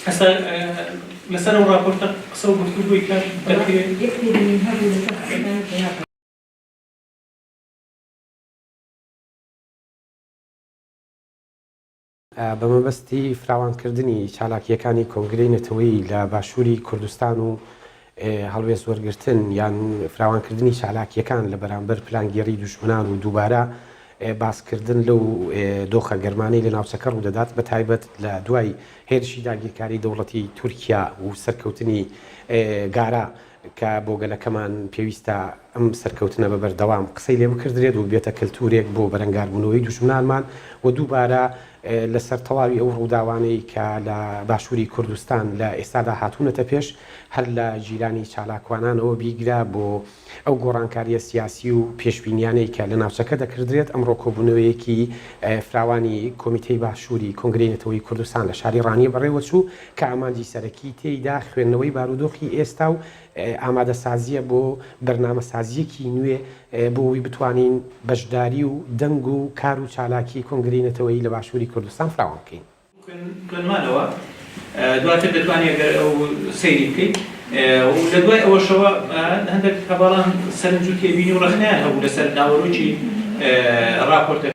ئێستا لەسەر ئەو راپۆرتە قسە و گفتوگۆی کە دەکرێت بە مەبەستی فراوانکردنی چالاکییەکانی کۆنگرەی نەتەوەیی لە باشووری کوردستان و هەڵوێست وەرگرتن یان فراوانکردنی چالاکییەکان لە بەرامبەر پلانگێڕی دوژمنان و دووبارە باسکردن لەو دۆخە گەرمانەی لە ناوچەکە ڕوودەدات بە تایبەت لە دوای هێرشی داگیرکاری دەوڵەتی تورکیا و سەرکەوتنی گارە کە بۆ گەلەکەمان پێویستە ئەم سەرکەوتنە بە بەردەوام قسەی لێ بکردرێت و ببێتە کەلتوورێک بۆ بەرەنگاربوونەوەی دوژمنانمان و دووبارە لە سەر تەواوی ئەو ڕووداوانەی کە لە باشووری کوردستان لە ئێستادا هاتوونەتە پێش هەر لە جیلانی چالاکوانانەوە بیگرە بۆ ئەو گۆڕانکارییە سیاسی و پێشبینیانەی کە لە ناوچەکە دەکردرێت ئەمڕۆ کۆبوونەوەیەکی فراوانی کۆمیتەی باشووری کۆنگرەی نەتەوەیی کوردستان لە شاری ڕانیە بەڕێوەچوو کە ئامانجی سەرەکیی تێیدا خوێندنەوەی بارودۆخی ئێستا و ئامادەسازییە بۆ بەرنامەسازییەکی نوێ بۆ ئەوەی بتوانین بەشداری و دەنگ و کار و چالاکیی کۆنگرەی نەتەوەیی لە باشووری کوردستان فراوان بکەین. کۆنمرەوە دواتر دەتوانی ئەگەر ئەو سەیری بکەیت و لە دوای ئەوەشەوە هەندێک هەڤاڵان سەرنج و تێبینی و ڕەخنەیان هەبوو لەسەر ناوەرۆکی ڕاپۆرتەکە.